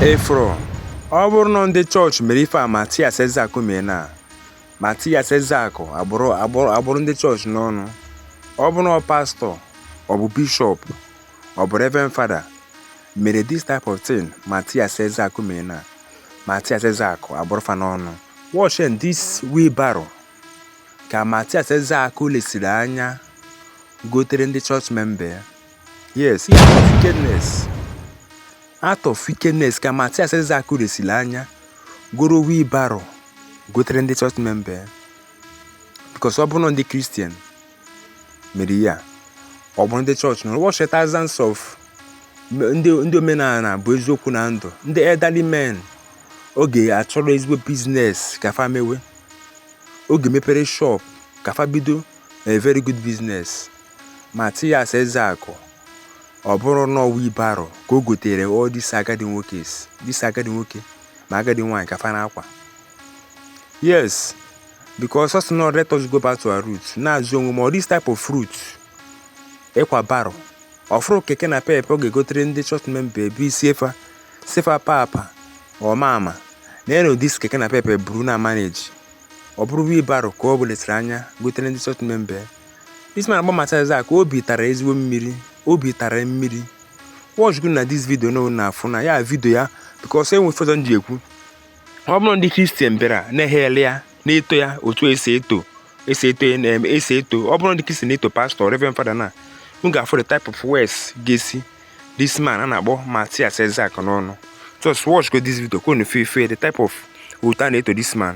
Efron, ọ bụrụ na ndị chọọchị mere ife a Matias Ezeaku mee na Matias Ezeaku akpụrụ ndị chọọchị n'ọnụ ọ bụrụ na ọ pastọ ọ bụ bishọp ọ bụ reverend fada mere this type of thing Matias Ezeaku mee na Matias Ezeaku akpụrụ fa n'ọnụ watch and this wheelbarrow ka Matias Ezeaku lesiri anya gotere ndị chọọchị memba ya yes ihe act of wickedness ka matias ezeaku lesiri anya goro wheelbarrow gotere ndị chọọchị memba ya because ọ bụrụ na ndị kristian mere ihe a ọ bụrụ ndị chọọchị na ụbọchị thousands of m- ndị ndị omenana bụ eziokwu na ndụ ndị elderly men ọ ga-achọrọ ezigbo business ka fa mewe ọ ga-emepere shop ka fa bido a very good business Mathias Ezeaku, ọ bụrụ na ọ wheelbarrow ka o gotere all these agadi nwoke ma agadi nwaanyị ka fa na-akwa yes because ọ sị na let us go back to our roots na-azụ onwe ma ọ this type of root ịkwa barrow ọ fụrọ keke napep ọ ga-egotere ndị chọọchị memba bịa sị fa papa or mama na eno this keke napep buru na-emanage ọ bụrụ wheelbarrow ka ọ bụ lesiri anya gotere ndị chọọchị memba This man a na-akpọ Matias Ezeaku obi tara ezigbo mmiri obi tara mmiri watch go na this video unu na-afụ na ya video ya because e nwe ife ọzọ m ji ekwu ọ bụrụ ndị kristian bịara na-ehail ya na-eto ya otu e si eto ọ bụrụ ndị kristian na-eto pastọ reverend fada na m ga-afụ the type of words ga-esi this man a na-akpọ Matias Ezeaku n'ọnụ just watch go this video ka unu fụ the type of otu a na-eto this man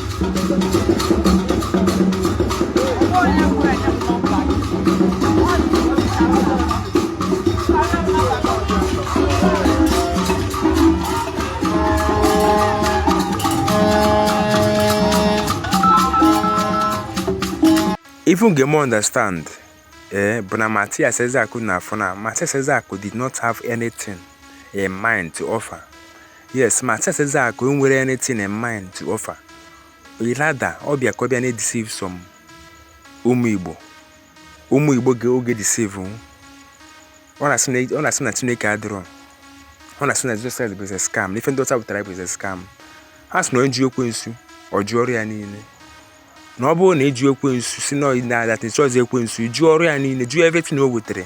even ga-eme understand Eh, but now Matthias Ezeaku na-afụ na, Matthias Ezeaku did not have anything in mind to offer. Yes, Matthias Ezeaku enwerọ anything in mind to offer. Rather, ọ bịa ka ọ bịa na-edeceive some ụmụ Igbo. Ụmụ Igbo ọ ga-edeceive hụ. Ọ na-asị na ọ na-asị na Chineke adịrọ. Ọ na-asị na Jesus Christ bụ a scam. Na ife ndị ọcha wetara bụ a scam. A sị na onye jụ ekwensu, ọ jụọ ọrụ ya niile. na ọ bụrụ na ị jụ ekwensu sị na ọyị na-adata ịchọzi ekwensu ị jụ ọrụ ya niile jụọ everything o wetara